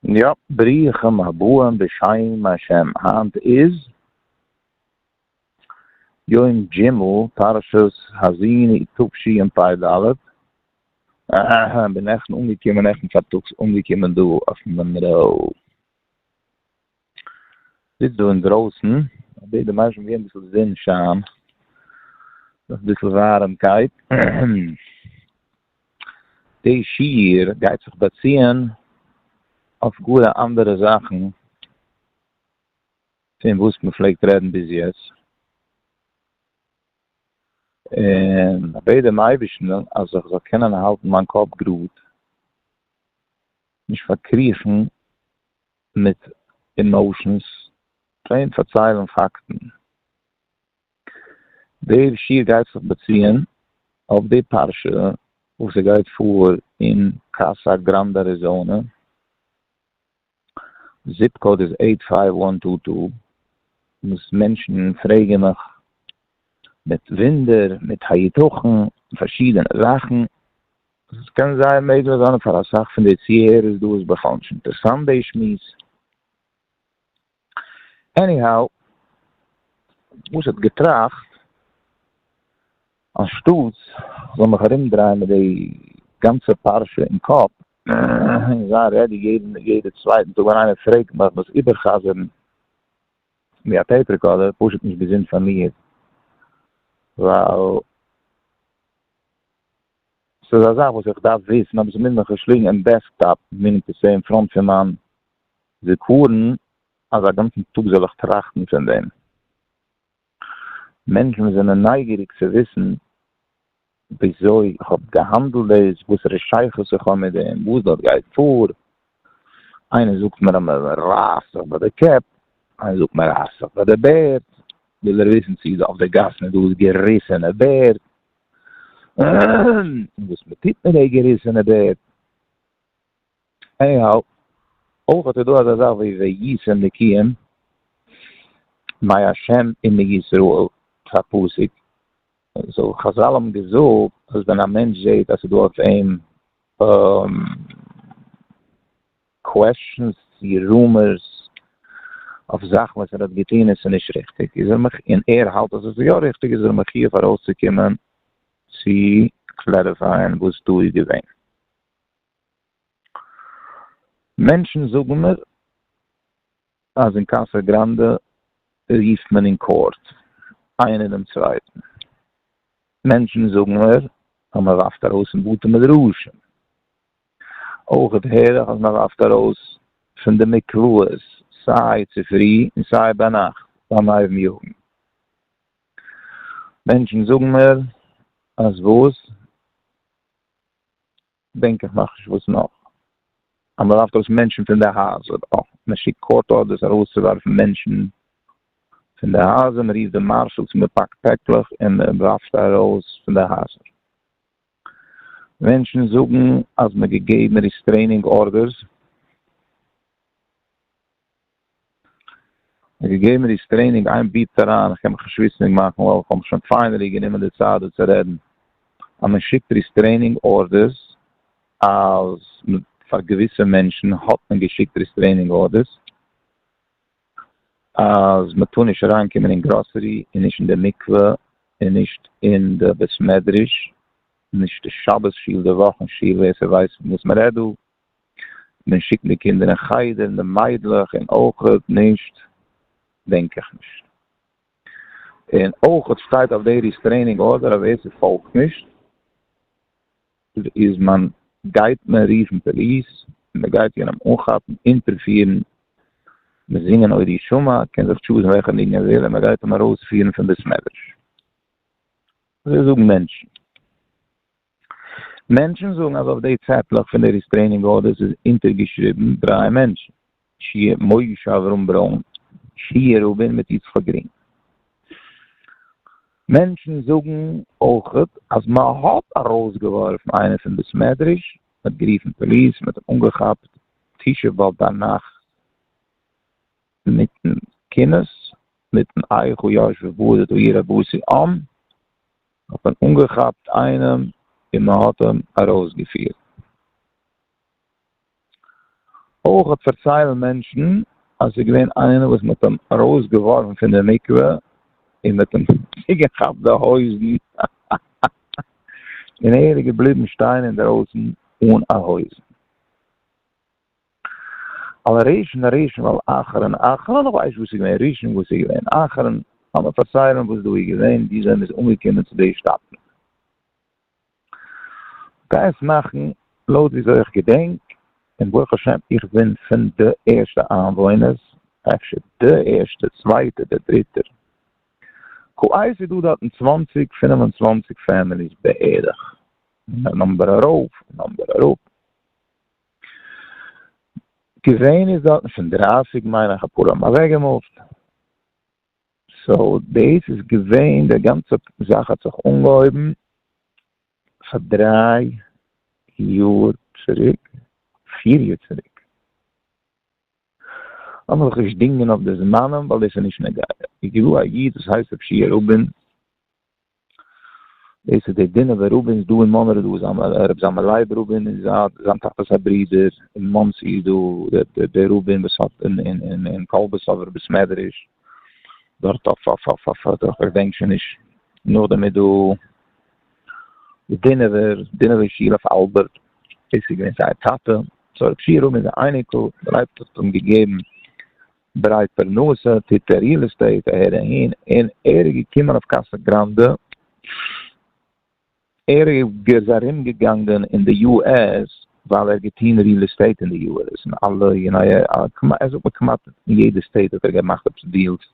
יאפ, ברוכים הבאים בשם השם, היינט איז יום ג'ימל פרשת האזיני תשי ן פ ד, אההה בין נעכטן אנגעקומען נעכטן פארטאגס אנגעקומען דא אויף מאנרא. זיצט דא אינדרויסן, אבי די מיינסט מ'געבן אביסל זון שיין, אביסל ווארעמקייט, די שיעור גייט זיך באציען אויף גאר א אנדערע זאכן פון וואס מ'פלעגט רעדן ביז יעצט, און כ'בעט דעם אייבערשטן אז איך זאל קענען האלטן מיין קאפ גראד, נישט פארקריכן מיט עמאושענס פלעין פארציילן פאקטן. די שיעור גייט זיך באציען אויף די פרשה וואס עס גייט פאר אין קאסא גראנדע אריזאנע, זיפ קאוד איז עיט פייוו וואן טו טו, וואס מענטשן פרעגן מיך מיט וואונדער מיט היתכן פארשידענע זאכן. וואס עס קען זייער מעגליך זיין פאר אסאך פון די צוהערערס דא איז בכלל נישט אינטערסאנט די שמועס. עניהאו, וואס איך האב געטראכט, אנשטאטס איך זאל מיך ארומדרייען מיט די גאנצע פרשה אין קאפ, און זיין רעדי יעדע צווייטן טאג ווען איינער פרעגט מיך דאס איבער'חזר'ן ווי א טעיפ רעקארדער, פשוט נישט געזונט פאר מיר, ווייל. ס'איז א זאך וואס איך דארף וויסן אבער ס'מוז מיך שלאגן אין דעסקטאפ, מינינג טו סעי אין פראנט פון מיין זיכרון, אז א גאנצן טאג זאל איך טראכטן פון דעם. מענטשן וואס זענען נייגעריג צו וויסן וויאזוי איך האב געהאנדלט דאס, וואסערע שייכות איך האב מיט דעם, וואס דארט גייט פאר, איינער זאגט מיר אז מען רייסט זיך ביי די קעפ, איינער זאגט מען רייסט זיך ביי די בערד, וויל ער וויסן צו דא אויף די גאסן איז דא געריסענע בערד, און וואס מען טוט מיט די געריסענע בערד. עניהאו, אויך איז דא אזא זאך ווי וישם נקיים, מי השם אין מי ישראל, פאר פסוק, סאו חזל האבן געזאגט אז ווען א מענטש זעט אז ס'איז דא אויף אים. קוועשאנס צי רומערס אויף זאכן וואס ער האט געטון און ס'איז נישט ריכטיג איז ער מחי' און ער האלט אז עס איז יא ריכטיג איז ער מחי' פאר ארויס צו קומען צו קלעריפייען וואס דא איז געווען. מענטשן זאגן מיר אז אין קאסא גראנדע רופט מען אין קאורט איינער דעם צווייטן. מענטשן זאגן מיר אז מען ווארפט ארויס אין בתי מדרשים. אויך הער איך אז מען ווארפט ארויס פון די מקוואות סיי צופרי און סיי ביינאכט ביים הייבן יאגן. מענטשן זאגן מיר אז וואס? דענק איך נאך נישט וואס נאך. אז מען ווארפט ארויס מענטשן פון די הייזער. אה, מען שיקט קאורט ארדערס ארויסצואווארפן מענטשן פון די הייזער, מען רופט די מארשאלס, מען פאקט פעקלעך און מען ווארפט ארויס פון די הייזער. מענטשן זאגן אז מען געגעבן ריסטרעינינג ארדערס מען געגעבן ריסטרעינינג איין ביפט אריין איך קען מיך נישט וויסענדיג מאכן ווייל איך האב מיך שוין פיינעלי גענומען די צייט דא צו רעדן אז מען שיקט ריסטרעינינג ארדערס אז פאר געוויסע מענטשן האט מען געשיקט ריסטרעינינג ארדערס. אז מען טאר נישט אריין קומען אין גראסערי און נישט אין די מקווה און נישט אין די בית מדרש נישט די שבת שול די וואכן שול ווער ס'ווייסט פון וואס מ'רעדט דא מען שיקן די קינדער אין חדר און די מיידלעך און אויכעט נישט דענק איך נישט און אויכעט שטייט אויף די ריסטרעינינג ארדער אז ווער ס'פאלגט נישט איז מען גייט מען רופן פאליס, מען גייט יענעם אנכאפן, אונטערפירן, מיט זינגען עוד ישמע, קען זיך טשוזן וועלכע ניגון ער וויל, און מען גייט אים ארויספירן פון בית מדרש. אזוי זאגן מענטשן. מענטשן זאגן אז אויף די צעטלעך פון די ריסטרעינינג ארדערס איז אונטערגעשריבן דריי מענטשן. שי' משה אברהם ברוין, שי' רובין מיט יצחק גרין. מענטשן זאגן אויך אז מען האט ארויסגעווארפן איינעם פון בית מדרש, מען האט גערופן פאליס, מען האט אים אנגעכאפט תשעה באב ביינאכט מיטן קינות, מיטן איכה יאש ובודד אוי איר אבוסי אן, האט מען אנגעכאפט איינעם און מען האט אים ארויסגעפירט. אויך פארציילן מענטשן אז ס'איז געווען איינער וואס מ'האט אים ארויסגעווארפן פון די מקווה און מ'האט אים צוגעכאפט די הויזן און ער איז געבליבן שטיין אינדערויסן אן א הויז. על ראשון ראשון ועל אחרון אחרון, איך ווייס נישט וואס איז געווען ראשון וואס איז געווען אחרון, לאמיר פארציילן וואס דא איז געווען וויאזוי מ'איז אנגעקומען צו די שטאטן. כ'גיי עס מאכן לויט וויאזוי איך געדענק, און ברוך השם איך בין פון די ערשטע איינוואוינערס, אפשר די ערשטע, צווייטע אדער דריטע. כווייס איז דא דארט אין צוואַנציק פֿינף און צוואַנציק פעמיליס בערך, און א נומבער ארויף און נומבער אראפ. געווען איז דארט פון דרייסיג מיינעך אפאר האבן אוועקגעמופט. סאו דאס איז געווען די גאנצע זאך האט זיך אנגעהויבן פאר דריי יאר צוריק, פיר יאר צוריק, לאמיר זיך נישט דינגען אויף די זמנים ווייל דאס איז נישט נוגע, איז געווע א איד וואס הייסט ר' שיע רובין דאס איז די דינוב'ער רבי'נס דא אין מאנרא דא איז א רבי זלמן לייב רובין איז א זיין טאטע'ס א ברודער אין מאנסי איז דא דער רובין וואס האט אין אין אין אין קאלבעסאווער בית מדרש דארט אויף אויף אויף אויף אויף איך געדענק שוין נישט נאכדעם איז דא די דינוב'ער דינוב'ער שול אויף אלבערט דאס איז געווען זייער טאטע סאו רבי שי' רובין איז א אייניקל דער אייבישטער האט אים געגעבן ברייט פרנסה טוט ער ריעל עסטעיט אהער אהין און ער איז געקומען אויף קאסא גראנדע, ער איז ארום געגאנגען אין די יו עס ווייל ער האט געטון ריעל עסטעיט אין די יו עס אין אלע כמעט זאגט מען כמעט אין יעדע סטעיט האט ער געמאכט עפעס דיעלס,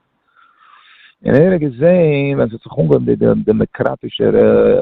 און ער האט געזעהן ווען ס'האט זיך אנגעהויבן די דעמעקראטישערע.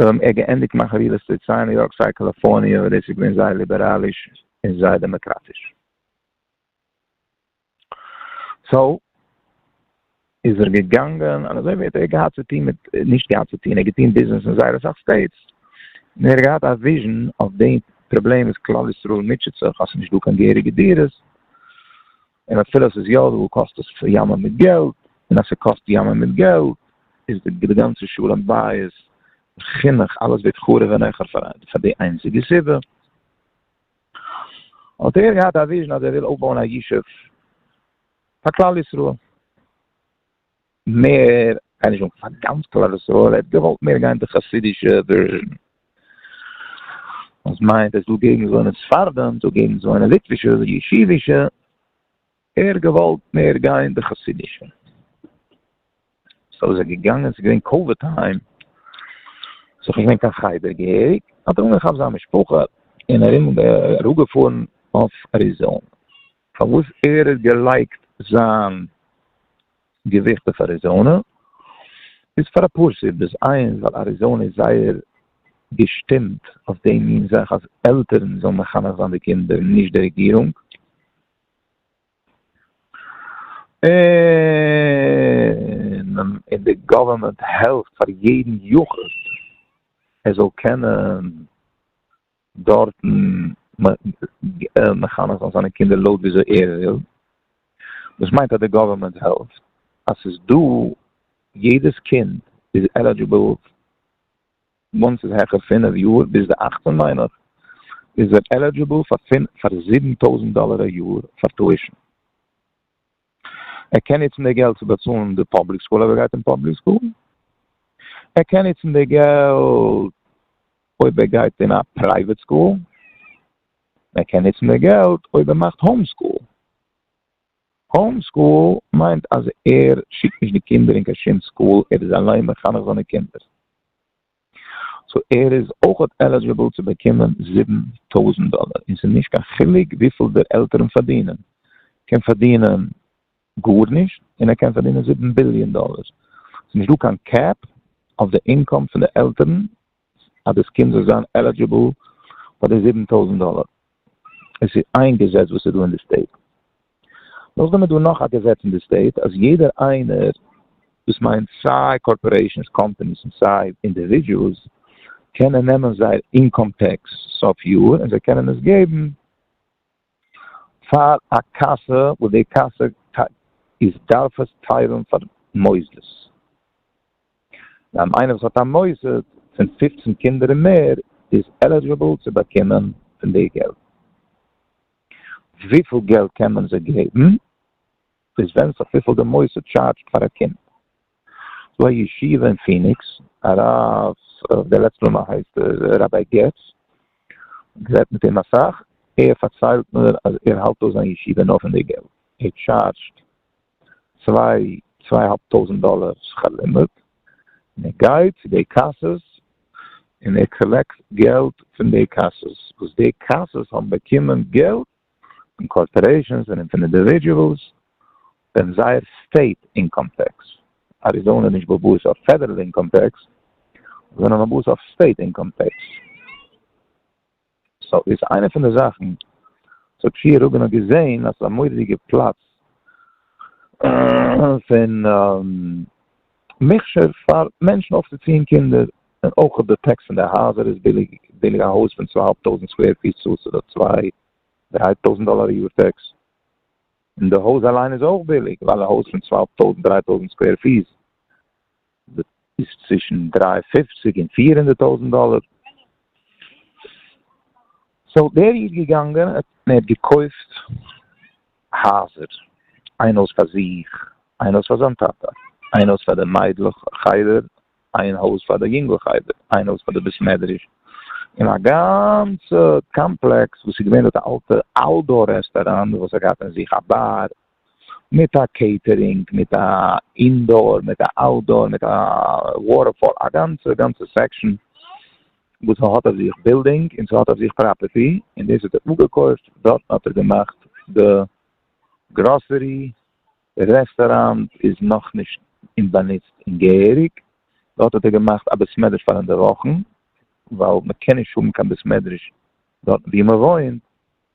זיי האבן געענדיגט מיין חבילות צו סיי ניו יארק סיי קאליפארניע וואו דאס איז געווען זייער ליבעראליש און זייער דעמאקראטיש. סאו איז ער געגאנגען און אזוי ווי האט ער געהאט צו טון מיט נישט געהאט צו טון ער האט געטון ביזנעס אין זייער אסאך סטעיטס און ער האט געהאט א וויזשען אויף די פראבלעם וואס כלל ישראל מוטשעט זיך אז ס'איז נישטא קיין געהעריגע דירות. און אפילו אז ס'איז יא דא קאסט עס ימים מיט געלט, און אז ס'קאסט ימים מיט געלט איז די גאנצע שלום בית, חינוך, אלעס ווערט חרוב אין עכו ר פאר די איינציגע סיבה. האט ער געהאט א וויזשן אז ער וויל אויפבויען א ישוב פאר כלל ישראל. מער גיי נישט אנקומען פאר גאנץ כלל ישראל, ער האט געוואלט מער גיין די חסידישע ווערזשען, וואס מיינט עס דא געגנט וואוינען ספרדים דא געגנט וואוינען ליטווישע ישיבישע, ער האט געוואלט מער גיין די חסידישע, סאו איז ער געגאנגען עס איז געווען קאוויד טיים סאו ס'איז נישט געווען קיין חדר געהעריג, האט ער אנגעכאפט זיין משפחה און ארום אראפגעפארן אויף אריזאנע, פארוואס ער האט געלייגט זיין געזוכט אויף אריזאנע איז פאר אפאר סיבות, איינס ווייל אריזאנע איז זייער געשטימט אויף די מין זאך אז עלטערן זאלן מחנך זיין די קינדער נישט די רעגירונג, און די גאווערמענט העלפט פאר יעדן יחיד ער זאל קענען דארטן מחנך זיין זיינע קינדער לויט וויאזוי ער וויל, דאס מיינט אז די גאווערמענט העלפט אז ס'איז דא, יעדעס קינד איז עלידזשיבל, וואנס ס'איז העכער פינף יאר ביז די אכצען מיין איך, איז ער עלידזשיבל פאר זיבן טויזענט דאלער א יאר פאר טואישען. ער קען נוצן די געלט צו באצאלן די פאבליק סקול אויב ער גייט אין פאבליק סקול, ער קען נוצן די געלט אויב ער גייט אין א פרייוועט סקול, ער קען נוצן די געלט אויב ער מאכט האום סקול. האום סקול מיינט אז ער שיקט נישט די קינדער אין קיין שום סקול, ער איז אליין מחנך זיינע קינדער. סאו ער איז אויכעט עלידזשיבל צו באקומען זיבן טויזענט דאלער, און ס'איז נישט קיין חילוק וויפיל דער עלטערן פארדינען, קען פארדינען גארנישט און ער קען פארדינען זיבן ביליאן דאלער, ס'איז נישט דא קיין קעפ אויף די אינקאם פון די עלטערן אז דאס קינד זאל זיין עלידזשיבל פאר די זיבן טויזענט דאלער, עס איז איין געזעץ וואס איז דא אין די סטעיט, נאכדעם איז דא נאך א געזעץ אין די סטעיט אז יעדער איינער, דאס מיינט סיי קארפארעישאנס, קאמפאניס און סיי אינדיווידזשועלס, קענען נעמען זייער אינקאם טעקס סוף יאר און זיי קענען עס געבן פאר א קאסע וואס די קאסע איז דארף עס טיילן פאר מוסדות. דיין איינער וואס האט א מוסד פון פופצן קינדער און מער איז עלידזשעבל צו באקומען פון די געלט. וויפיל געלט קען מען זיי געבן? דאס ווענדט זיך וויפיל די מוסד טשארדזשט פאר א קינד. ס'דא א ישיבה אין פיניקס, הרב, כ'וועל עפעס נאמען הייסט ער, ראביי געץ, גערעדט מיט אים אסאך, ער פארציילט מיר אז ער האלט אויס זיין ישיבה נאר פון די געלט, ער טשארדזשט צוויי צוויי האלב טויזענט דאלער שכר לימוד און ער גייט צו די קאסעס און ער קאלעקט געלט פון די קאסעס וואס די קאסעס האבן באקומען געלט פון קארפארעישאנס און פון אינדיווידועלס ווען זייער סטעיט אינקאם טעקס אריזאנע איז נישט באבוס אויף פעדערל אינקאם טעקס זענען באבוס אויף סטעיט אינקאם טעקס. סאו איז איינע פון די זאכן סאו טשיער רובין האט געזעהן אז ס'איז א מורא'דיגע פלאץ פון מכשור פאר מענטשן אויפצוציען קינדער, און אויך די טעקס פון די הייזער איז ביליג, ביליג א הויז פון צוויי אהאלב טויזענט סקווער פיס צאלסטו דארט צוויי דריי טויזענט דאלאר א יאר טעקס, און די הויז אליין איז אויך ביליג ווייל א הויז פון צוויי אהאלב טויזענט דריי טויזענט סקווער פיס איז צווישן דרײַ און פֿופֿציק און פֿיר הונדערט טויזנט דאלער. סאו דער איד געגאנגען און ער האט געקויפט הייזער, איין הויז פאר זיך, איין הויז פאר זיין טאטע, איין הויז פאר די מיידלעך חדר, איין הויז פאר די יונגלעך חדר, איין הויז פאר די בית מדרש, און א גאנצע קאמפלעקס וואס איז געווען דארט א אלטע אלדור רעסטאראנט וואס האט געהאט אין זיך א באר, מיט א קעיטערינג, מיט א אינדאר, מיט א אוטדאר, מיט א וואטער פארק, א גאנצע גאנצע סעקשאן וואס ס'האט אויף זיך בילדינג און ס'האט אויף זיך פראפערטי, און דאס האט ער אפגעקויפט, דארטן האט ער געמאכט די גראסערי, די רעסטאראנט איז נאכנישט אין באנוצט אין געהעריג, דארט האט ער געמאכט א בית מדרש פאר אינדערוואכן, ווייל מ'קען נישט האבן קיין בית מדרש דארטן וואו מ'וואוינט,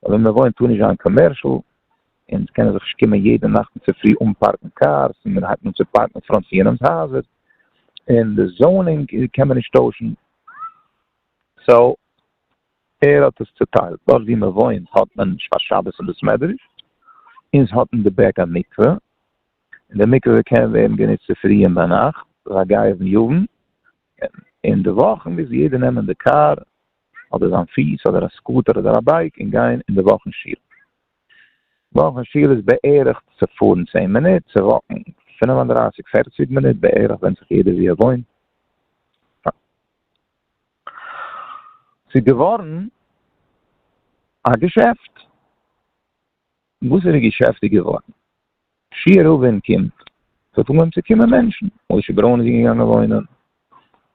אבער מען וואוינט טאר נישט זיין קאמערשעל, און עס קענען זיך נישט קומען יעדע נאכט און צופרי אנפארקן קארס, און מען הייבט אן צו פארקן אין פראנט פון יענעמ'ס הייזער, און די זאונינג קען מען נישט טוישן, סאו ער האט עס צוטיילט, דארט ווי מען וואוינט האט מען שבת שווער אין בית מדרש, אונז האט אין די בעק א מקווה, און די מקווה קען ווערן גענוצט צופרי און ביינאכט, ביי גייער און יאוון, און אין די וואכן מוז יעדער נעמען די קאר אדער זיין פיס אדער א סקוטער אדער א בייק און גיין אין די וואכן שול. וואכן שול איז בערך צו פארן צען מינוט, צו וואקן פֿינף און דרײַסיק פערציג מינוט בערך, ווענדט זיך יעדער ווי ער וואוינט. ס'איז געווארן א געשעפט. וואסערע געשעפט איז געווארן? שיער רוב ווען קומט ס'האט אנגעהויבן צו קומען מענטשן, משה ברוין איז געגאנגען וואוינען,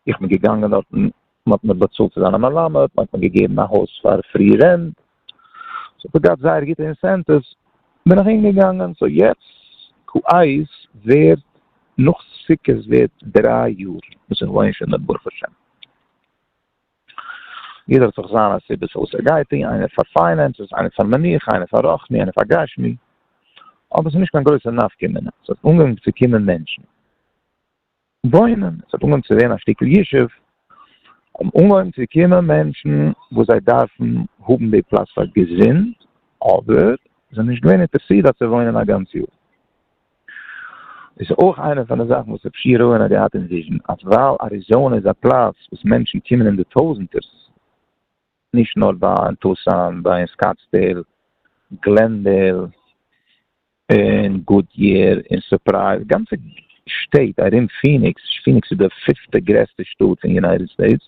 איך בין געגאנגען דארטן, מ'האט מיר באצאלט צו זיין א מלמד, מ'האט מיר געגעבן א הויז פאר פרי רענט, ס'האט זיך געהאט זייער גוטע אינסענטיווס, בין איך אהינגעגאנגען, סאו יעצט קאיס ווערט נאך סוכות ווערט דריי יאר וואס איך וואוין שוין דארט ברוך השם. יעדער האט זיך זיינע סיבות פארוואס ער גייט אהין, איינער פאר פיינענסעס, איינער פאר מנוחה, איינער פאר רוחני, איינער פאר גשמי. אבער עס איז נישט קיין גרויסע נפקא מינה, עס האט אנגעהויבן צו קומען מענטשן וואוינען, עס האט אנגעהויבן צו ווערן א שטיקל ישוב, האבן אנגעהויבן צו קומען מענטשן וואס זיי דארפן האבן די פלאץ פאר געזונט, אבער זענען נישט געווען אינטערעסירט דארט צו וואוינען א גאנץ יאר. דאס איז אויך איינע פון די זאכן וואס רב שי רויען האט געהאט אין וויזשן, אז ווייל אריזאנע איז א פלאץ וואס מענטשן קומען אין די טויזענטערס, נישט נאר ביי אין טוסאן, ביי אין סקאטסדעיל, גלענדעיל, און גודיער, און סורפרייז, גאנצע שטעט ארום פיניקס, פיניקס איז די פיפטע גרעסטע שטאט אין יונייטעד סטעיטס,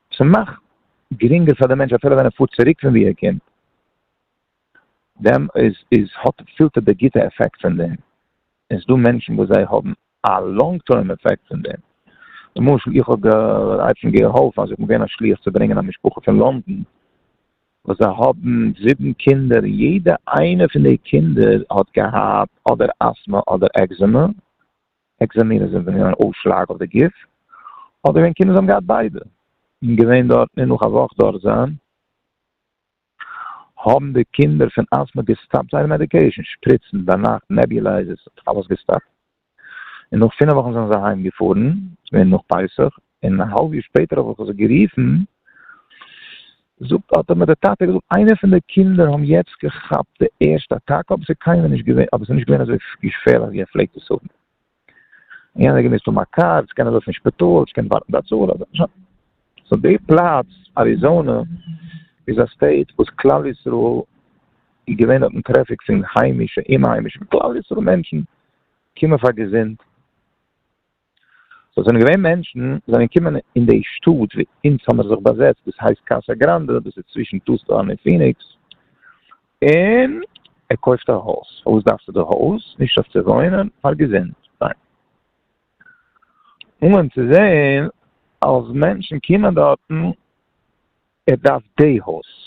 ס'מאכט גרינגער פאר די מענטש אפילו ווען ער פארט צוריק פון ווי ער קומט, דעם איז איז האט פילט ער די גוטע אפעקט פון דעם, און ס'איז דא מענטשן וואס זיי האבן א לאנג טורם אפעקט פון דעם, למשל איך האב געהאט שוין געהאלפן אז איך בין געווען א שליח צו ברענגען א משפחה פון לונדון וואס זיי האבן זיבן קינדער און יעדע איינע פון די קינדער האט געהאט אדער אסטמא אדער עקזעמע, עקזעמינען זינט ווען אן אויסשלאג אויף די גוף, אדער ווען קינדער האבן געהאט ביידע און געווען דארט און נאך א וואך דארט זיין האבן די קינדער פון אסטמא געסטאפט זייערע מעדיקעישאן, שפריצן, ביינאכט נעביולייזערס, אלעס געסטאפט, און נאך פינעף וואכן זענען זיי אהיים געפארן, ס'געווען נאך פסח, און א האלב יאר שפעטער האב איך זיך גערופן, זאגט האט מיר די טאטע געזאגט איינער פון די קינדער האבן יעצט געכאפט די ערשטע אטאקע אבער ס'איז קיינמאל נישט געווען אבער ס'איז נישט געווען אזוי געפערליך ווי ער פלעגט עס האבן, און יענער האט געמוזט האבן א קאר, יעצט קען ער לויפן אין שפיטאל, יעצט קען ער ווארטן ביי צה ל, סאו די פלאץ אריזאנע איז א סטעיט וואס כלל ישראל איז געווען אויפן טרעפיק פון היימישע, אומהיימישע, כלל ישראל מענטשן קומען פאר געזונט. סאו ס'זענען געווען מענטשן וואס זענען געקומען אין די שטאט ווי אונז האמיר זיך באזעצט דאס הייסט קאסא גראנדע דאס איז צווישן טוסלאן און פיניקס און ער קויפט א הויז פארוואס דארפסטו די הויז? נישט אויף צו וואוינען פאר געזונט ניין אנגעהויבן צו זעהן אז מענטשן קומען דארטן ער דארף די הויז.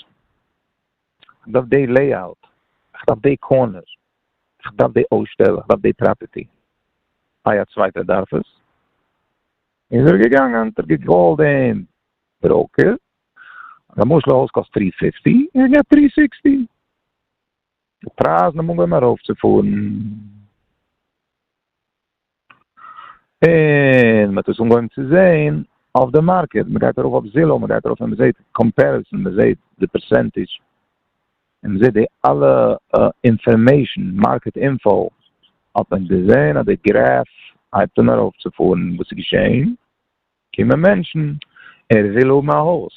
כ'דארף דעי לעיאוט, כ'דארף דעי קארנער, כ'דארף דעי אויסשטעל, כ'דארף דעי פראפערטי. איי א צווייטער דארף עס? איז ער געגאנגען, האט ער געקאלט דעם בראוקער, אז א משל א הויז קאסט טרי פיפטי, ער האט געהאט טרי סיקסטי. די פרייזן האבן אנגעהויבן ארויפצופארן. און מ'האט עס אנגעהויבן צו זעהן אויף די מארקעט, מ'גייט ארויף אויף זילאו, מ'גייט ארויף און מ'זעהט קאמפעריסאן, מ'זעהט די פערסענטידזש, און מ'זעהט די אלע אינפארמעישאן, מארקעט אינפאו, האט מען געזעהן אז די גרעף הייבט אן ארויפצופארן, וואס איז געשעהן? קומען מענטשן, ער וויל האבן א הויז,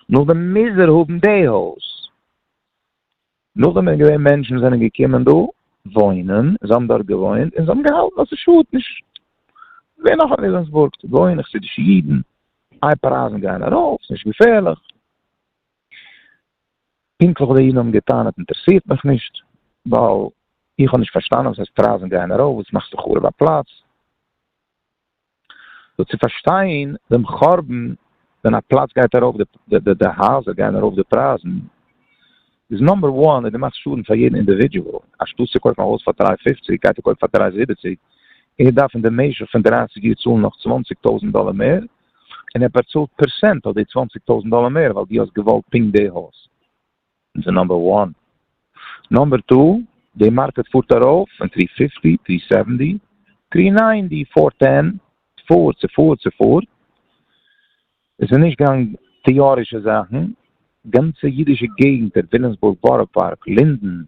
נאכדעם מוז ער האבן די הויז, נאכדעם איז געווען מענטשן זענען געקומען דא וואוינען, זיי האבן דארט געוואוינט און זיי האבן געהאלטן אז ס'שאדט נישט, ווער נאך אין וויליאמסבורג צו וואוינען? חסידישע אידן, איי פרייזן גייען ארויף, ס'איז נישט געפערליך. פונקטליך וואס די אידן האבן געטענה'ט אינטערעסירט מיך נישט, ווייל איך האב נישט פארשטאנען וואס הייסט פרייזן גייען ארויף, וואס מאכסטו חרוב א פלאץ? סאו צו פארשטיין דעם חורבן ווען א פלאץ גייט ארויף די די הייזער גייען ארויף די פרייזן איז נאמבער וואן אז דו מאכסט שאדן פאר יעדן אינדיווידועל אנשטאט צו קויפן א הויז פאר דרײַ פֿופֿציק גייט ער קויפן פאר דרײַ זיבעציק און ער דארף אין די משך פון דרײַסיק יאר צאלן נאך צוואַנציק טויזנט דאלער מער און ער באצאלט פערסענט אויף די צוואַנציק טויזנט דאלער מער ווייל דו האסט געוואלט פונקט די הויז. אונז איז נאמבער וואן. נאמבער טו, די מארקעט פארט ארויף פון טרי פיפטי, טרי סעווענטי, טרי ניינטי, פאר טען, ס'פארט, ס'פארט, ס'פארט. עס איז נישט קיין טעארישע זאכן. גאנצע אידישע געגנטער, וויליאמסבורג, בארא פארק, לינדען,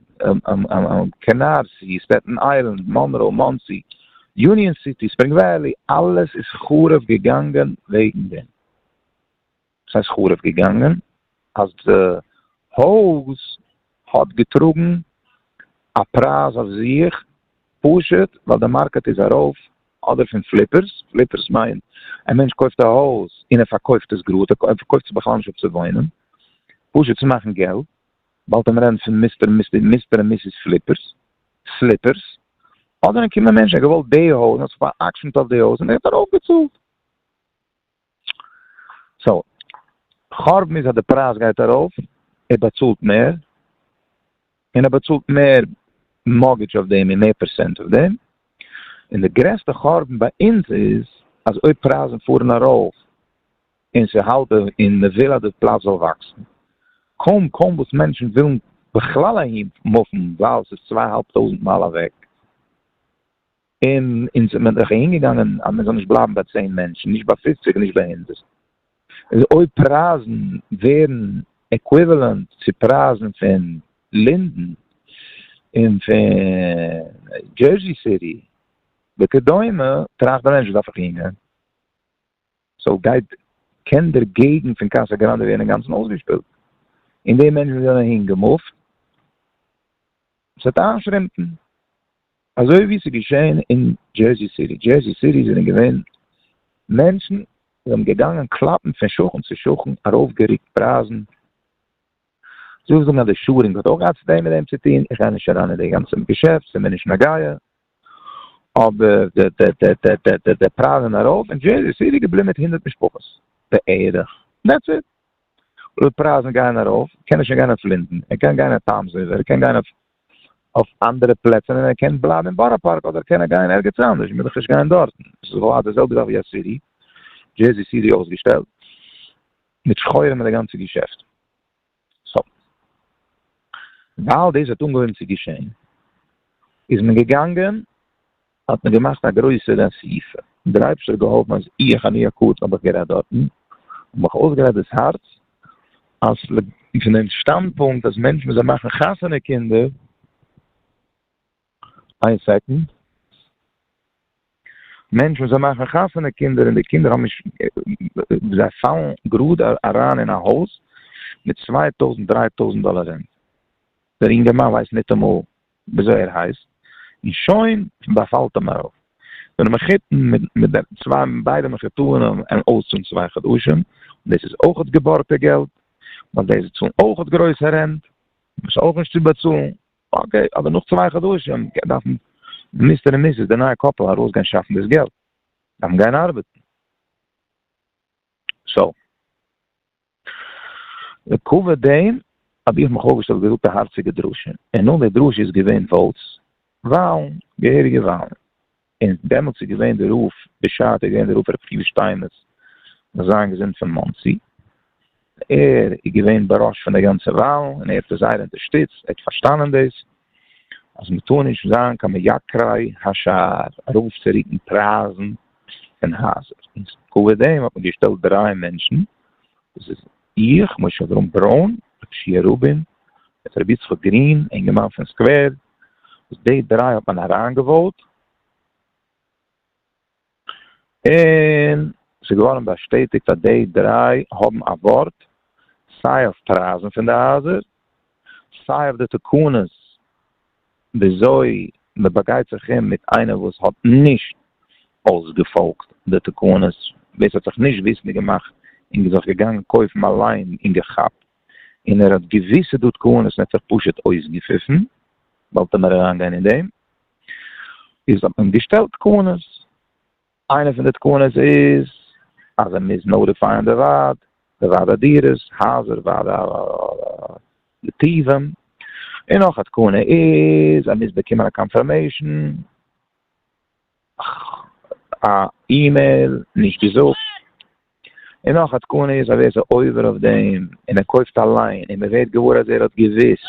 קענארסי, סטעטן איילענד, מאנרא, מאנסי, יוניאן סיטי, ספרינג וועלי, אלעס איז חרוב געגאנגען וועגן דעם. וואס הייסט חרוב געגאנגען? אז די הויז האט געטראגן א פרייז אויף זיך פשוט ווייל די מארקעט איז ארויף, אדער פון פליפערס, פליפערס מיינט א מענטש קויפט א הויז און ער פארקויפט עס גראד, ער קויפט עס בכלל נישט אפ צו וואוינען, פשוט צו מאכן געלט, באלד ווען מען רעדט פון מיסטער און מיסיס פליפערס, פליפערס, אדער אן קומען מענטש ער האט געוואלט די הויז, מען האט זיך פאראקשענט אויף די הויז און ער האט ארויפגעצאלט. סאו, חורבן איז אז די פרייז גייט ארויף, ער באצאלט מער, און ער באצאלט מער מארטגעדזש אויף דעם און מער פערסענט אויף דעם, און די גרעסטע חורבן ביי אונז איז אז אויב פרייזן פארן ארויף און ס'האלט די און מ'וויל אז די פלאץ זאל וואקסן, קוים קוים וואס מענטשן ווילן בכלל אהין מופן ווייל ס'איז צוויי אהאלב טויזנט מייל אוועק. און אונז האט מען דאך אהין געגאנגען אז מען זאל נישט בלייבן ביי צען מענטשן, נישט ביי פופציג און נישט ביי הונדערט. איז אויב פרייזן ווערן עקוויוועלענט צו פרייזן פון לינדען און פון דזשערזי סיטי וכדומה, טראכט דער מענטש וואס דארף איך אהין גיין? סאו גייט קען דער געגנט פון קאסא גראנדע ווערן אינגאנצן אויסגעשפילט און די מענטשן וואס זענען אהין געמופט ס'וועט איינשרומפן אזוי ווי ס'איז געשען אין דזשערסי סיטי, דזשערסי סיטי זענען געווען מענטשן וואס זענען געגאנגען קלאפן פון שכן צו שכן ארויפגערוקט פרייזן. זיך זאגן אז די שאדינג האט אויך געהאט צו דעם מיט דעם צו טון, איך גיי נישט אריין אין די גאנצע געשעפט, ס'איז מיר נישט נוגע, אבער די פרייז זענען ארויף, און דזשערזי סיטי איז געבליבן מיט הונדערט משפחות בערך, דעטס איט, אויב די פרייזן גייען ארויף קען ער שוין גיין אויף לינדען, ער קען גיין אויף טאמס ריווער, ער קען גיין אויף אנדערע פלעצער און ער קען בלייבן אין בארא פארק אדער קען ער גיין ערגעץ אנדערש, מיר דאך נישט גיין דארטן, ס'איז לכאורה די זעלבע זאך ווי א סיטי, דזשערזי סיטי אויסגעשטעלט. מיט שחורים אין די גאנצע געשעפטן. סאו ווייל דאס האט אנגעהויבן צו געשען, איז מען געגאנגען, האט מען געמאכט א גרויסער אסיפה, און דער אייבערשטער האט געהאלפן אז איך, אני הקטן, האב איך גערעדט דארטן, און מיך אויסגערעדט דאס הארץ, אז פון דעם שטאנדפונקט אז מענטשן וואס זיי מאכן חתונה קינדער, איין סעקאנד. מענטשן וואס זיי מאכן חתונה קינדער און די קינדער האבן נישט זיי פאלן גראד אריין אין א הויז מיט צוויי טויזנט דריי טויזנט דאלער רענט דער אינגערמאן ווייסט ניטאמאל וויאזוי ער הייסט און שוין באפאלט אים ארויף דער מחותן מיט די צוויי ביידע מחותנים און אויסצאלן צוויי חדשים דאס איז אויכעט געבארגטע געלט ווייל די צאלן אויכעט גרויסע רענט וואס איז אויך נישט צו באצאלן אקעי, אבער נאך צוויי חדשים דארפן מיסטער און מיסיס די נייע קאפל ארויסגיין שאפן דאס געלט, דארפן גיין ארבעטן. סאו. לעקאווע דעם האב איך מיך אויפגעשטעלט געזאגט א הארציגע דרשה, און נאך די דרשה איז געווען וואוטס, וואלן, געהעריגע וואלן. און דעמאלטס איז געווען די רב בשעתו איז געווען די רב רבי צבי שטיינמעץ זיין געזונט פון מאנסי, ער איז געווען בראש פון די גאנצע וואלן און ער האט עס זייער אונטערשטיצט, ער האט פארשטאנען דאס אז מען טאר נישט זיין קיין מייקרי השער ארויף צו רוקן פרייזן פון הייזער, און צוליב דעם האט מען געשטעלט דריי מענטשן, דאס איז איך, משה אברהם ברוין, ר' שיע רובין, מיט ר' יצחק גרין, אינגערמאן פון סקווער, וואס די דריי האט מען אריינגעוואוט, און ס'איז געווארן באשטעטיגט אז די דריי האבן א ווארט, סיי אויף פרייזן פון די הייזער, סיי אויף די תקנות וויאזוי מען באגייט זיך אום מיט איינער וואס האט נישט אויסגעפאלגט די תקנות, ווער ס'האט זיך נישט וויסנדיג געמאכט און זיך געגאנגען קויפן אליין און געכאפט און ער האט געוויסע דוד כהנא'ס און ער האט זיך פשוט אויסגעפיפן, וואלט ער מער אריין גיין אין דעם, איז האט מען געשטעלט תקנות, איינע פון די תקנות איז אז ער מוז נאוטיפייען די ועד, די ועד הדירות, הייזער, ועד הנתיבים, און נאך א תקנה איז ער מוז באקומען א קאנפערמעישן. א אימעיל נישט געזאגט, און נאך א תקנה איז אז ער איז א עובר אויף דעם און ער קויפט אליין און מען ווערט געוואר אז ער האט געוויסט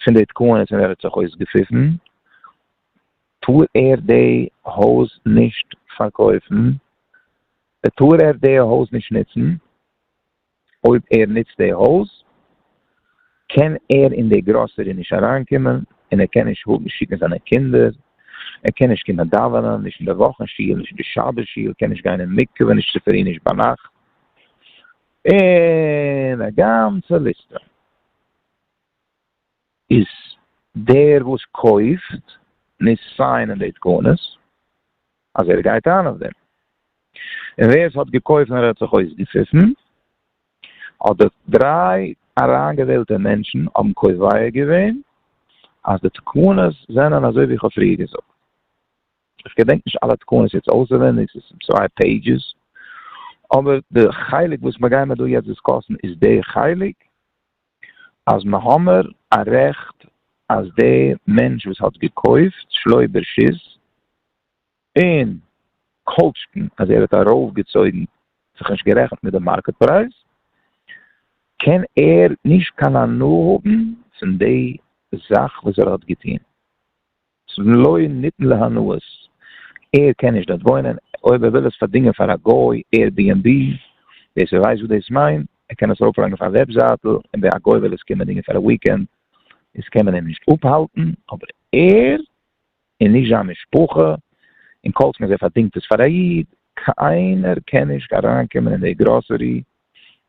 פון די תקנות און ער האט זיך אויסגעפיפן טאר ער די הויז נישט פארקויפן, טאר ער די הויז נישט נוצן. אויב ער נוצט די הויז קען ער אין די גראסערי נישט אריינקומען און ער קען נישט שיקן זיינע קינדער, ער קען נישט קומען דאווענען, נישט אין די וואכן שול, נישט אין די שבת שול, קען נישט גיין אין מקווה נישט צופרי נישט ביינאכט, און א גאנצע ליסטע. איז דער וואס קויפט נישט סיינען די תקנות אז ער גייט איין אויף דעם, און ווער עס האט געקויפט און ער האט זיך אויסגעפיפן האט די דריי אריינגעוועלטע מענטשן האבן קובע געווען אז די תקנות זענען אזוי ווי איך האב פריער געזאגט, איך געדענק נישט אלע תקנות יעצט אויסעווענדיג, ס'איז צוויי פעידזשעס, אבער די חלק וואס מיר גיימער דא יעצט דיסקאסן איז דער חלק. אז מ'האמער א רעכט אז די מענטש וואס האט געקויפט שלו' ברשות און כל שכן אז ער האט ארויף געצויגן זיך נישט גערעכנט מיט די מארקעט פרייז קען ער נישט קיין הנאה האבן פון די זאך וואס ער האט געטוהן. לא ניתן להנאות, ער קען נישט דארט וואוינען, אויב ער וויל עס פארדינגען פאר א גוי, עיר בי ענד בי, ווער ס'ווייסט וואס דאס מיינט, ער קען עס ארויפלייגן אויף א וועבזייטל, און ווען א גוי וויל עס קומען דינגען פאר א וויקענד, איז קען מען אים נישט אפהאלטן, אבער ער, און נישט זיין משפחה, און כל זמן זיי פארדינגט עס פאר א איד, קיינער קען נישט אריינקומען אין די גראסערי,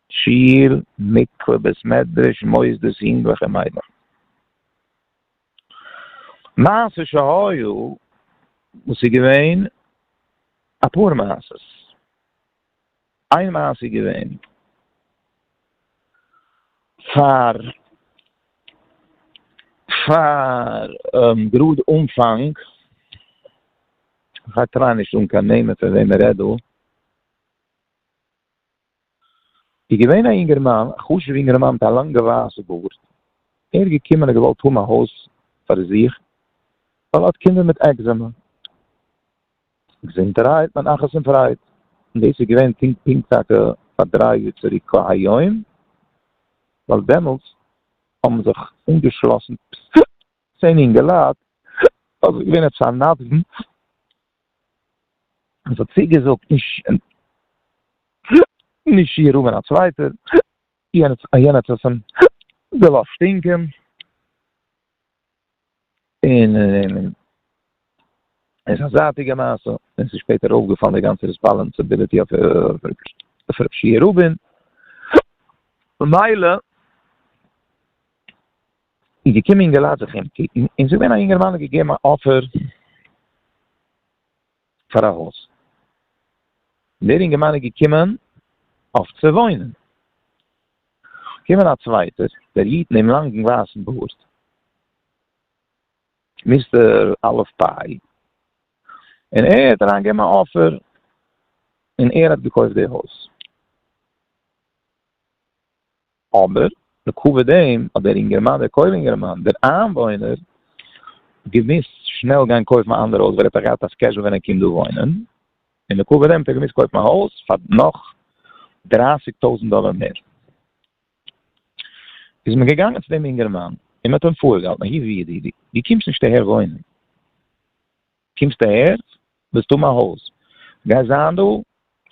שול, מקווה, בית מדרש, מוסדות, יונגלעך און מיידלעך. מעשה שהיה, וואס איז געווען אפאר מעשות, איין מעשה איז געווען, פאר פאר גראד אנפאנג, כ'טריי נישט זאגן קיין נעמען פון וועם מ'רעדט דא, איז געווען א אינגערמאן, א חשוב'ע אינגערמאן מיט א לאנגע ווייסע בארד, ער איז געקומען און געוואלט האבן א הויז פאר זיך, ווייל ער האט קינדער מיט עקזעמע, געזונטערהייט מיין נחת און פרייד, און דאס איז געווען פונקט פונקט טאקע פאר דריי יאר צוריק כהיום, ווייל דעמאלטס האבן זיך אנגעשלאסן צען אינגעלייט, ווייל ס'איז געווען עפעס א נדבן. עס האט צוגעזאגט נישט איר רבין א צווייטער, יענער האט עס אים געלאזט שטינקען, און עס איז א זייטיגע מעשה, און עס איז שפעטער אויפגעפאלן די גאנצע ריספאלענסיביליטי אויף רבי שי' רבין, ממילא. איז געקומען אינגעלייט זיך אומקוקן, און ס'איז געווען א יונגערמאן האט געגעבן א אפער פאר א הויז, דער אינגערמאן איז געקומען אויף צו וואוינען, קומען א צווייטער, דער איד מיטן לאנגן ווייסן בארד, מיסטער אלף פיי, און ער האט אריין געגעבן א אפער, און ער האט געקויפט די הויז. אבער בעקבות דעם האט דער אינגערמאן, דער קוים אינגערמאן, דער איינוואוינער, געמוזט שנעל גיין קויפן א אנדער הויז ווייל ער האט דאך געהאט א סקעדזשול ווען ער קומט דא וואוינען, און בעקבות דעם האט ער געמוזט קויפן א הויז פאר נאך דרײַסיק טויזנט דאלער מער. איז מען געגאנגען צו דעם אינגערמאן און מען האט אים פארגעהאלטן, הי ו ידידי, דו קומסט נישט אהער וואוינען. קומסט אהער? ווילסט האבן א הויז? גייסט זיין דא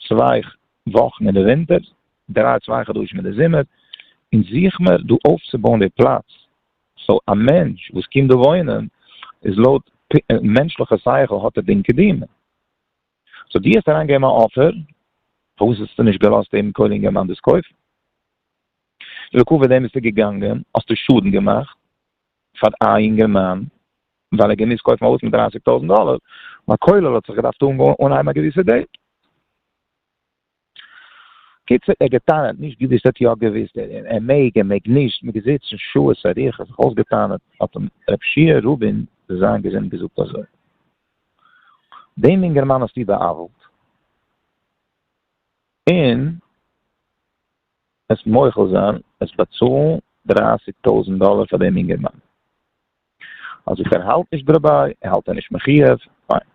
צוויי וואכן אין די ווינטער, דריי צוויי חדשים אין די זומער, און זוך מיר דא אויפצובויען די פלאץ. סאו א מענטש וואס קומט דא וואוינען איז לויט מענטשליכע שכל האט ער דין קדימה. סאו דו האסט אריין געגעבן א אפער, פארוואס האסטו נישט געלאזט דעם קודם יעמאן דאס קויפן? לעיקוואד דעם ביסטו געגאנגען, האסטו שאדן געמאכט, פאר א יונגערמאן ווייל ער געמוזט קויפן א הויז מיט דרייסיג טויזנט דאלער און א כולל האט זיך געדארפט אנהייבן א געוויסע דעיט. קיצור ער געטענה'ט נישט געוויסט ער האט יא געוויסט ער מעג ער מעג נישט מען געזיצן שעות אריכות זיך אויסגעטענה'ט האט אים רב שיע רובין זאל זיין געזונט געזאגט אזוי דעם יונגערמאן האסטו בא'עוול'ט און עס מוחל זיין עס באצאלן דרייסיג טויזענט דאלער פאר דעם אינגערמאן. אז איך ערהאלט נישט דרביי ערהאלט ער נישט מחיוב, פיין.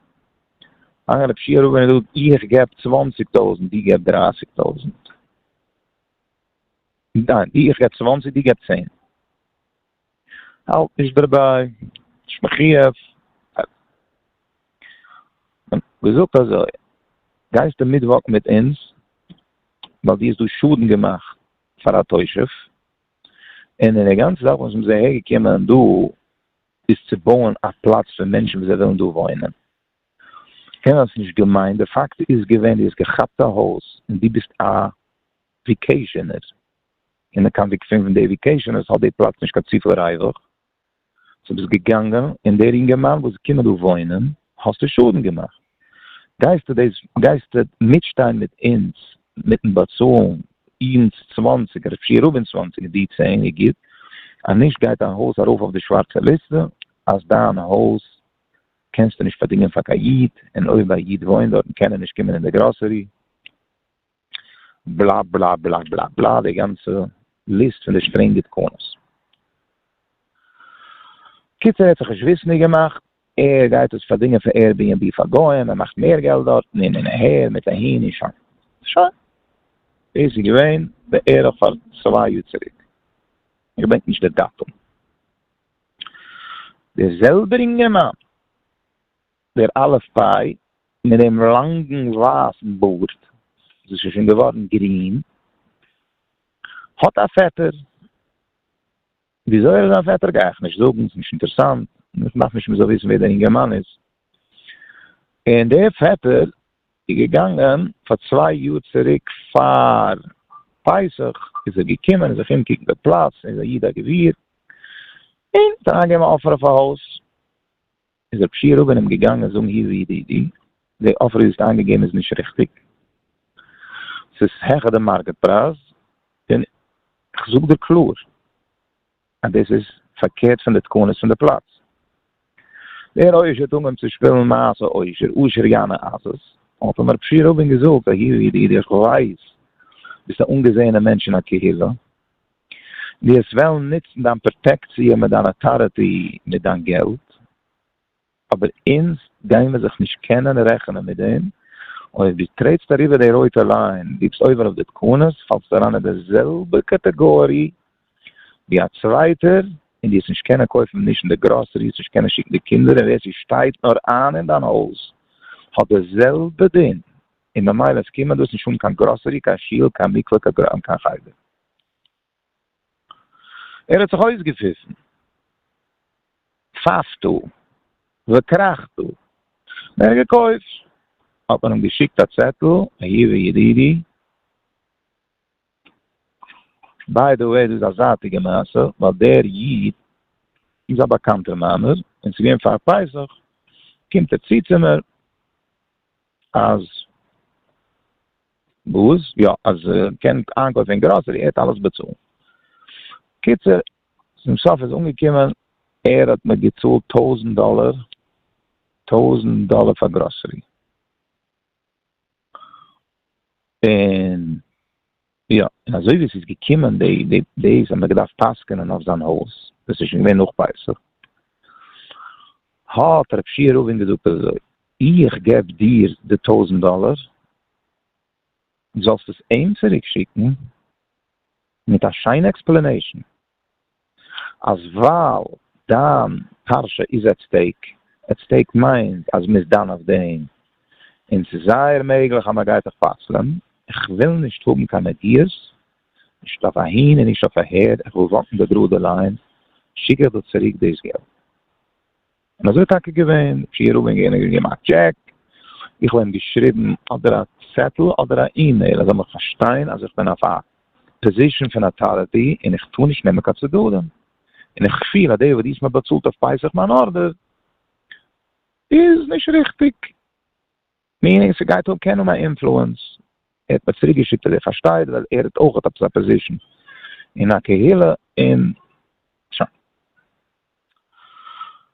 איין רב שיעור ווען ער זאגט איך געב צוואנציג טויזענט דו געב דרייסיג טויזענט. ניין איך געב צוואנציג דו געב צען. איך האלט נישט דערביי, נישט מחיוב. געזאגט אזוי, גייסטו מיטוואקן מיט אונז ווייל דו האסט דא שאדן געמאכט פאר א תושב, און די גאנצע זאך וואס מ'איז אהער געקומען דא איז צו בויען א פלאץ פאר מענטשן וואס זיי ווילן דא וואוינען. קענער האט עס נישט געמיינט, די פאקט איז געווען דו האסט געכאפט א הויז און דו ביסט א וויקעישאנער. אין די קאנטעקסט פון די עדיקעישאן עס האט די פלאץ נישט קיין צופיל ריווח, סאו ביסט געגאנגען און דער אינגערמאן וואס איז געקומען דא וואוינען האסטו שאדן געמאכט, גייסטו דאס גייסטו מיטשטיין מיט אונז מיטן באצאלן אונז צוואַנציק אדער פיר און צוואַנציק דיר צען איז גוט, אז נישט גייט דיין הויז ארויף אויף די שווארצע ליסטע אז דיין הויז קענסטו נישט פארדינגען פאר קיין איד און אויב א איד וואוינט דארטן קען ער נישט קומען אין די גראסערי. בלא בלא בלא בלא בלא די גאנצע ליסט פון די שטרענגע תקנות. קיצור ער האט זיך נישט וויסענדיג געמאכט ער גייט עס פארדינגען פון עיר בי ענד בי פאר גוים ער מאכט מער געלט דארטן און און אהער מיט אהין און שוין. שוין. דאס איז געווען בערך פאר צוויי יאר צוריק. איך געדענק נישט די דאטום. דער זעלבער אינגערמאן. דער אלף ביי מיט דעם לאנגן ווייסן בארד, וואס איז שוין געווארן גרין, האט א פעטער. וויאזוי ער איז זיין פעטער גיי איך נישט זאגן, ס'נישט אינטערסאנט, איך דארף נישט מען זאל וויסן ווער דער אינגערמאן איז. און דער פעטער איז געגאנגען פאר צוויי יאר צוריק פאר פסח איז ער געקומען זיך אומקוקן די פלאץ, ער איז א איד א גביר, און האט אריינגעגעבן אן אפער אויף א הויז. איז רב שי' רובין אים געגאנגען זאגן הי ו ידידי, די אפער ווי דו האסט איינגעגעבן איז נישט ריכטיג, ס'איז העכער די מארקעט פרייז, און כ'זאג דיר קלאר אז דאס איז פארקערט פון די תקנות פון די פלאץ. דער עושר האט אנגעהויבן צו שפילן מעשה עושר, עושר יענה עזות, האט אים רב שי' רובין געזאגט, הי ו ידידי איך ווייס ביסט א אנגעזעענע מענטש אין א קהילה, די האסט וועלן נוצן דיין פראטעקציע מיט דיין אטארעטי מיט דיין געלט, אבער אונז גיימער זיך נישט קענען רעכענען מיט דעם, אויב די טרעטסט אריבער די רויטע ליין, די ביסט עובר על די תקנות, פאלסטו אריין אין די זעלבע קאטעגארי ווי א צווייטער, און די האסט נישט קענען קויפן נישט אין די גראסערי, האסט נישט קענען שיקן די קינדער, און ווער ס'שטייט נאר איין אין דיין הויז האט די זעלבע דין, און ממילא עס קומען דאס נישט אן קיין גראסערי, קיין שול, קיין מקווה, קיין חדר. ער האָט זיך אױסגעפֿיפֿן, פֿײַפֿט דאָ, װעקראַכט דאָ! װער געקױפֿט? האָט מען אים געשיקט אַ צעטל, אַיעװע ידידי, בײַ דע װעי, דאָס איז אַ זײַטיקע מעשׂה, װײַל דער ייִד איז אַ באַקאַנטער מײַנער, און ס'איז געװען פֿאַר פּסח, קומט ער צו צו מיר. אז וואס? יא אז ער קען איינקויפן אין גראסערי, ער האט אלעס באצאלט. קיצור, צום סוף איז אנגעקומען ער האט מיר געצאלט טויזנט דאלער, טויזנט דאלער פאר גראסערי. און. יא, און אזוי ווי עס איז געקומען די דעיס האט מען געדארפט פסק'נען אויף זיין הויז, דאס איז שוין געווען נאך פסח, האט רב שיע רובין געזאגט אזוי, איך געב דיר די טויזנט דאלער, זאלסט עס אים צוריק שיקן מיט א שיינע עקספלענעישן. אז ווייל דיין פרשה איז עט סטעיק, עט סטעיק מיינט אז מ'איז דן אויף דעם, און ס'איז זייער מעגליך אז מ'גייט דיך פסל'ען, איך וויל נישט האבן קיין נגיעות, נישט אויף אהין און נישט אויף אהער, איך וויל וואקן די גראדע ליין, שיק איך דיר צוריק דאס געלט. און אזוי איז טאקע געווען, פריער האבען גענע געגעבן א טשעק, איך האב אים געשריבען אדער א צעטל אדער א אימעיל, ער זאל מיך פארשטיין אז איך בין אויף א פאזישען פון אטאריטי און איך טאר נישט נעמען קיין צדדים, און איך פיל אז די וואס דאס מ'האט באצאלט אויף פסח מיין ארדער איז נישט ריכטיג. מיענינג ס'גייט האבן קענען א אינפלוענס, ער האט מיר צוריק געשיקט אז ער פארשטייט ווייל ער האט אויך עפעס א פאזישן אין א קהילה און שוין.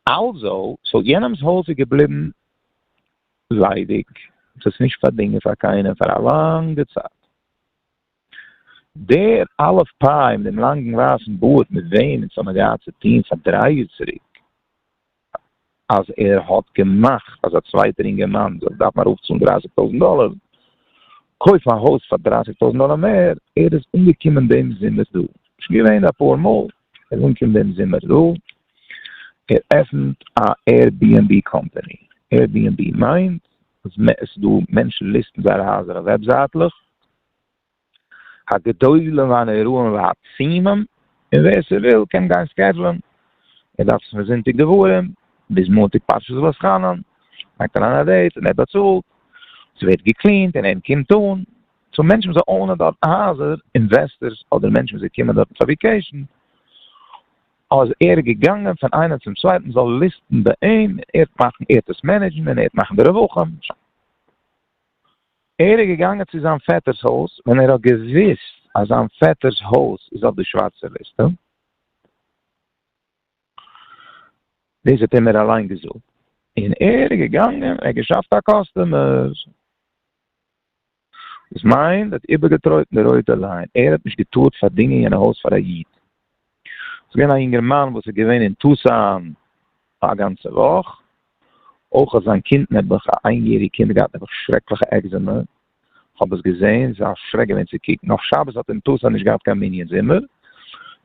אלזא, סאו יענעמס הויז איז געבליבן ליידיג, עס איז נישט פארדינגען פאר קיינעם פאר א לאנגע צייט. דער אלף פיי מיט דעם לאנגן ווייסן בארד מיט וועם אונז האבן געהאט צו טון פאר דריי יאר צוריק. אז ער האט געמאכט אז א צווייטער אינגערמאן זאל דארפן ארויפצאלן דרייסיג טויזנט דאלער, קויפן א הויז פאר דרייסיג טויזנט דאלער מער, ער איז אנגעקומען דעם זומער דא, נישט געווען אפאר מאל, ער איז אנגעקומען דעם זומער דא, ער עפענט א עיר בי ענד בי קאמפאני, עיר בי ענד בי מיינט אז עס איז דא מענטשן ליסטן זייערע הייזער אויף וועבזייטלעך, הגדולים והנוראים והעצומים, און ווער ס'וויל קען גיין סקעדזשולען, ער דארף עס פון זונטאג דברים ביז מאנטאג פרשת ואסחנן, לייגט אריין א דעיט און ער באצאלט, ס'ווערט געקלינט און ער קומט אן, סאו מענטשן וואס זיי אונען דארטן הייזער, אינוועסטערס אדער מענטשן וואס זיי קומען דארטן פאר וויקעישן, אז ער איז געגאנגען פון איינעם צום צווייטן זאל ליסטן ביי אים, ער האט מאכן ער האט עס מענעדזשן און ער האט מאכן די רווחים. ער איז געגאנגען צו זיין פעטער'ס הויז ווען ער האט געוואוסט אז זיין פעטער'ס הויז איז אויף די שווארצע ליסטע. דאס האט אים ער אליין געזאגט. און ער איז געגאנגען, ער האט געשאפט א קאסטומער. דאס מיינט ער האט איבערגעטרויטן די רויטע ליין. ער האט נישט געטארט פארדינגען יענע הויז פאר א איד. ס'איז געווען א יונגערמאן וואס איז געווען אין טוסאן פאר א גאנצע וואך, אויך האט זיין קינד נעבעך, א איין יעריג קינד, געהאט נעבעך שרעקליכע עקזעמע, כ'האב עס געזעהן, ס'איז א שרעק געווען צו קוקן, אויף שבת האט אין טוסאן נישט געהאט קיין מנין זומער,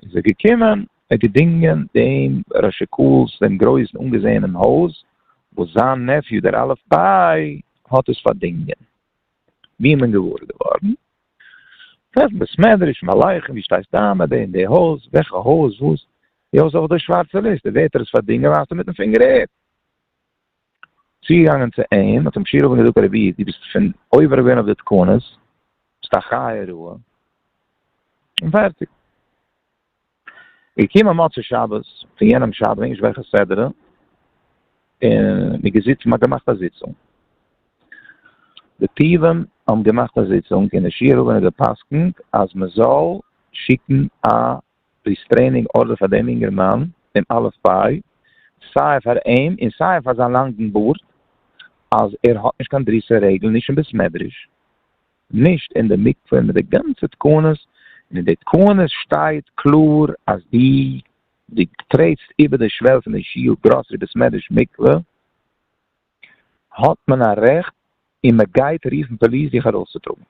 איז ער געקומען, ער געדינגען דעם ר' שאקול'ס דעם גרויסן אנגעזעהענעם הויז, וואס זיין נעפיו דער אלף ביי האט עס פארדינגען. ווי איז מען געוואר געווארן? פארן בית מדרש, מלייכן, ווי שטייסט איין ביי די און די הויז, וועלכע הויז, וואס, די הויז אויף די שווארצע ליסטע, ווערט ער עס פארדינגען ווייזט ער מיטן פינגער אהער. צוגעגאנגען צו אים, האט אים שיר אבן געזאגט רבי איד דו ביסט פון עובר געווען אויף די תקנות, ביסט א חיה רעה, און פערטיג. איך קום א מוצאי שבת פון יענעם שבת נישט וועלכע סדרה, און מיר געזיצן מ'האט געמאכט א זיצונג. די טיבים האבן געמאכט א זיצונג און די שיעור האבער האט גע'פסק'נט אז מ'זאל שיקן א ריסטרעינינג ארדער פאר דעם אינגערמאן אין א' פי', סיי פאר אים און סיי פאר זיין לאנגן בארד, אז ער האט נישט קיין דריסת רגל נישט אין בית מדרש. נישט אין די מקווה מיט די גאנצע תקנות, און אין די תקנות שטייט קלאר אז די די טרעטסט איבער די שוועל פון די שיעור גראסערי בית מדרש מקווה האט מען א רעכט און מען גייט רופן פאליס דיך ארויסצוטראגן,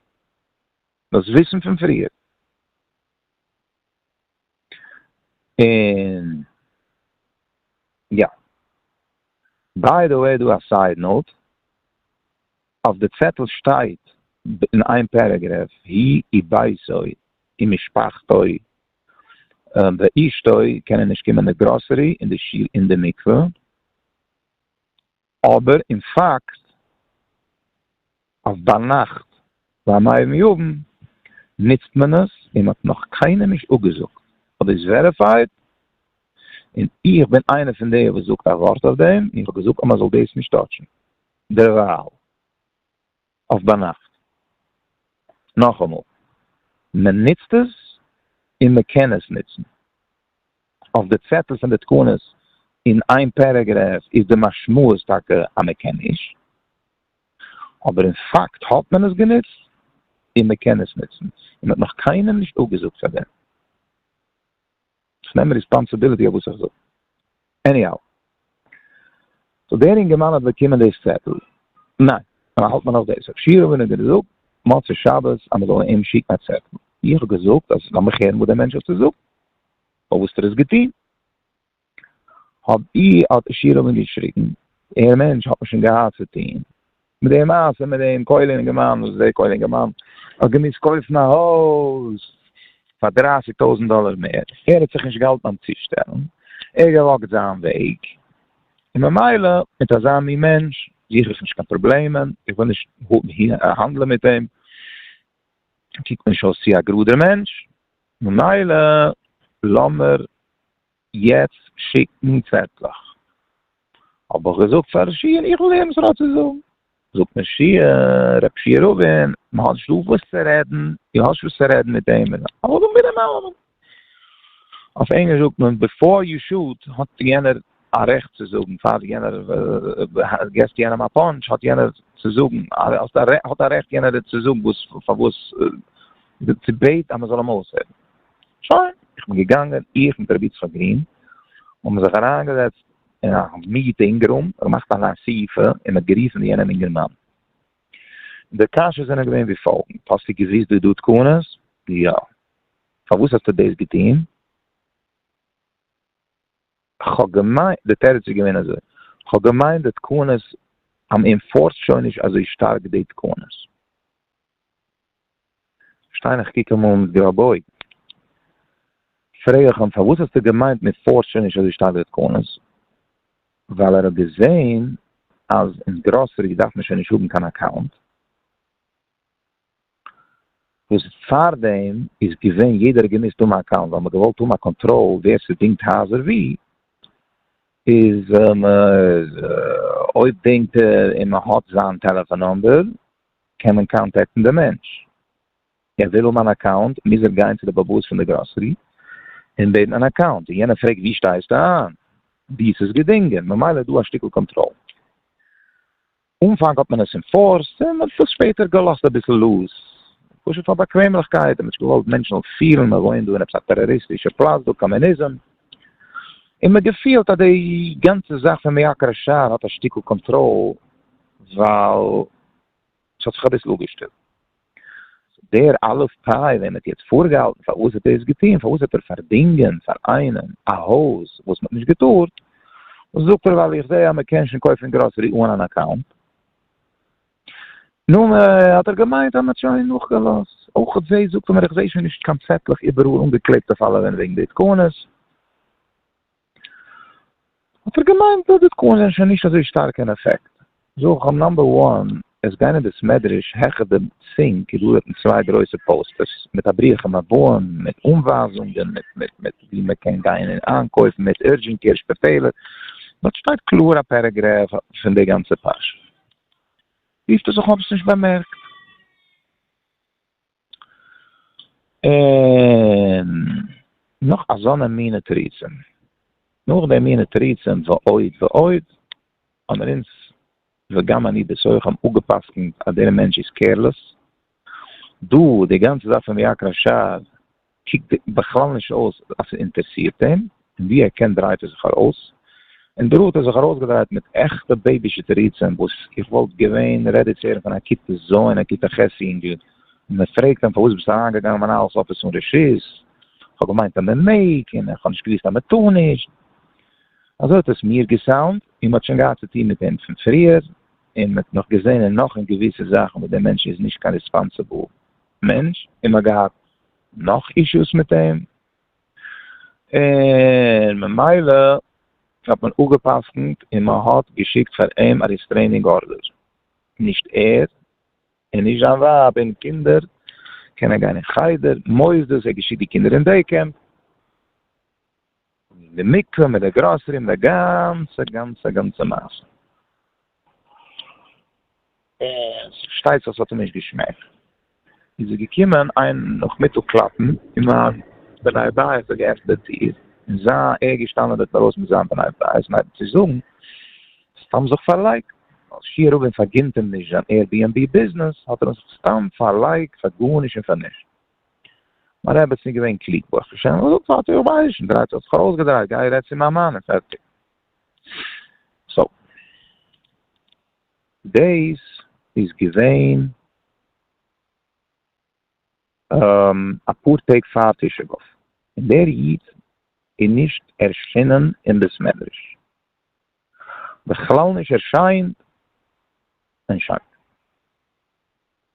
דאס וויסן פון פריער. און יא. ביי די וועי דא א סייד נאוט, אויף די צעטל שטייט אין איין פערעגרעף היא וביתו ומשפחתו ואשתו קענען נישט קומען אין די גראסערי אין די שול אין די מקווה. אבער אין פאקט אז ביינאכט ביי מאיר מיאוון נוצט מען עס און מען האט נאך קיינעם נישט אפגעזאגט האט דאס וועריפייד און איך בין איינער פון די וואס זאגט א ווארט אויף דעם און איך האב געזאגט אז מען זאל דאס נישט טאטשן דערווייל. אויף ביינאכט. נאכאמאל, מען נוצט עס און מען קען עס נוצן. אויף די צעטל פון די תקנות אין איין פערעגרעף איז די משמעות טאקע אז מען קען נישט, אבער אין פאקט האט מען עס גענוצט און מען קען עס נוצן, און מען האט נאך קיינעם נישט אפגעזאגט פאר דעם. כ'נעם ריספאנסעבילעטי אויף וואס איך זאג. עניהאו. סאו דער אינגערמאן האט באקומען דאס צעטל? ניין. און האלט מען נאך דאס אפשיר ווען איז געזאגט מוצאי שבת אז מען זאל אים שיקן א צעטל? איך האב געזאגט אז לאמיך הערן וואס דער מענטש האט צו זאגן אויף וואס ער איז געטון. האב איך האט עשירעווען געשריגן דער מענטש האט מיר שוין געהאט צו טון. מיט די מעשה מיט דעם כולל אינגערמאן וואס דער כולל אינגערמאן האט געמוזט קויפן א הויז פאר דרײַסיק טויזענט דאלער מער, ער האט זיך נישט געהאלטן ביים צושטעלן, ער האט געוואקט זיין וועג, און ממילא מיט אזא מין מענטש זוך איך נישט קיין פראבלעמען, איך וויל נישט האנדלען מיט אים, ער קוקט מיר נישט אויס צו א גראדער מענטש, ממילא לאמיר יעצט שיקן צעטלעך. האב איך געזאגט פאר ר' שיע'ן איך וויל הערן וואס ער האט צו זאגן. זאגט מיר שיע'ן, ר' שיע רובין, מען האט נישט דא וואס צו רעדן, דו האסט וואס צו רעדן מיט דעם און דעם, אבער דאן ביטע נאכאמאל. אויף ענגליש זאגט מען בעפאר יו שוט האט יענער א רעכט צו זאגן, פאר יענער געסט יענעם א פאנטש האט יענער צו זאגן, האט א רעכט יענער צו זאגן וואס פארוואס, צו בעט אז מען זאל אים אויסהערן. שוין, איך בין געגאנגען, איך מיט רבי יצחק גרין, האבן זיך אריינגעזעצט אין א מיעוטע אינגעררום, געמאכט א ליין אסיפה, און מ'האט גערופן די יענעם אינגערמאן. די קשיות זענען געווען ווי פאלגענד, האסטו געוואוסט די ד' תקנות? יא. פארוואס האסטו דאס געטון? כ'האב געמיינט, די תירוץ איז געווען אזוי, כ'האב געמיינט די תקנות, מ'אינפארסט שוין נישט אזוי שטארק די תקנות. שטיין איך קוק אמאל מיט גראבע אויגן פרעג איך אים פארוואס האסטו געמיינט מען פארט שוין נישט אזוי שטארק די תקנות ווייל ער האט געזעהן אז אין גראסערי דארף מען שוין נישט האבן קיין אקאונט וואס פארדעם איז געווען יעדער האט געמוזט האבן א אקאונט ווייל מען האט געוואלט האבן א קאנטראל ווער ס'דינגט הייזער ווי איז אויב דינגט ער און מען האט זיין טעלעפאן נומבער קען מען קאנטעקטן די מענטש. ער ווילל מיין אקאונט מוז ער גיין צו די באבאס פון די גראסערי און בעטן אן אקאונט און יענער פרעגט ווי שטייסטו איין ווי ס'איז געדינגען ממילא איז דא א שטיקל קאנטראל. אנפאנג האט מען עס אינפארסט און מען האט עס שפעטער געלאזט אביסל לוז פשוט פאר באקוועמליכקייט און מען האט נישט געוואלט מענטשן זאלן פילן מען וואוינט דא אין עפעס א טעראריסטישע פלאץ דא קאמוניזם און מען געפילט אז די גאנצע זאך פון מיעקרא שער האט א שטיקל קאנטראל. ווייל ס'האט זיך אביסל אפגעשטילט. דער אלף פאי וועם מ'האט יעצט פארגעהאלטן פארוואס האט ער דאס געטון, פארוואס האט ער פארדינגען פאר איינעם א הויז וואס מ'האט נישט געטארט, זאגט ער ווייל איך זעה אז מ'קען שוין קויפן גראסערי אן אן אקאונט. נו, האט ער געמיינט אז מ'האט שוין נאכגעלאזט. אויך זעה, זאגט ער מיר, איך זעה שוין נישט קיין צעטלעך איבעראל אנגעקלעבט אויף אלע ווענט וועגן די התקנות. האט ער געמיינט אז די תקנות זענען שוין נישט אזוי שטארק אין אפעקט. זאג איך אים נאמבער וואן, עס גיין אין די סמעדרעש, העכער דעם סינק איז דא דארטן צוויי גרויסע פאוסטערס, מיט א ברוך און הבאים, מיט אנווייזונגען, מיט מיט מיט ווי מען קען גיין און איינקויפן, מיט אורדזשענט קעיר שפיטעלער, דארט שטייט קלאר א פערעגרעף פון די גאנצע פרשה. רופט ער זיך אן איך האב עס נישט באמערקט. און נאך אזאנע מינע תירוצים. נאך די מינע תירוצים ועוד ועוד, האמיר אונז, וגם אני בתוכם, אפגע'פסק'נט אז דער מענטש איז קעירלעס. דא, די גאנצע זאך פון ויקרא שד, קוקט בכלל נישט אויס אז ס'אינטערסירט אים, און ווי ער קען דרייט ער זיך ארויס, און דא האט ער זיך ארויסגעדרייט מיט עכטע בעיבישע תירוצים וואס איך וואלט געווען רעדי צו הערן פון א כיתה ז' און א כיתה ח' יונגל, מען פרעגט אים פארוואס ביסטו אריינגעגאנגען אין מנהל'ס אפיס אן רשות, כ'האב געמיינט אז מען מעג, און איך האב נישט געוואוסט אז מען טאר נישט. אזוי האט עס מיר געסאונד, און מען האט שוין געהאט צוטון מיט אים פון פריער, און מען האט נאך געזען און נאך און געוויסע זאכן וואס דער מענטש איז נישט קיין ריספאנסעבל. מענטש און מען האט געהאט נאך אישוס מיט אים און ממילא האט מען אפגע'פסק'נט און מען האט געשיקט פאר אים א ריסטרעינינג ארדער, נישט ער און נישט זיין ווייב און קינדער קענען גיין אין חדר, מוסדות, ער האט געשיקט די קינדער אין דעי קעמפ. און די מקווה מיט די גראסערי און די גאנצע גאנצע גאנצע מעשה. און ס'פארשטייט זיך ס'האט אים נישט געשמעקט. איז ער געקומען איין נאכמיטאג קלאפן אין מיין בני בית האט ער געעפנט די טיר און זיין ער געשטאנען דארט אינדרויסן מיט זיין בני בית און ער האט צו זאגן סתם זיך פארלייגט ווייל שי' רובין פארגינט אים נישט זיין עיר בי ענד בי ביזנעס האט ער זיך סתם פארלייגט פאר גארנישט און פאר נישט. מיין רעבעצין איז געווען קלוג ברוך השם און זאגט פארטיג איך ווייס נישט דריידל האט זיך ארויסגעדרייט גיי רעד צו מיין מאן און פערטיג סאו דעיס איז געווען אפאר טעג פאר תשעה באב און דער איד איז נישט ערשינען אין בית מדרש בכלל נישט ערשיינט און שוין.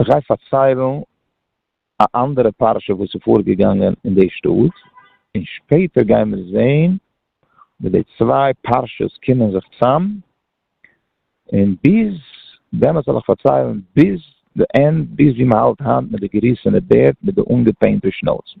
איך גיי פארציילן א אנדערע פרשה וואס איז פארגעגאנגען אין די שטאט, און שפעטער גייען מיר זעהן ווי די צוויי פרשות קומען זיך צאם, און ביז דעמאלטס וועל איך פארציילן ביז די ענד ביז ווי מען האלט היינט מיט די געריסענע בערד מיט די אנגעפעינטע שנאוזן.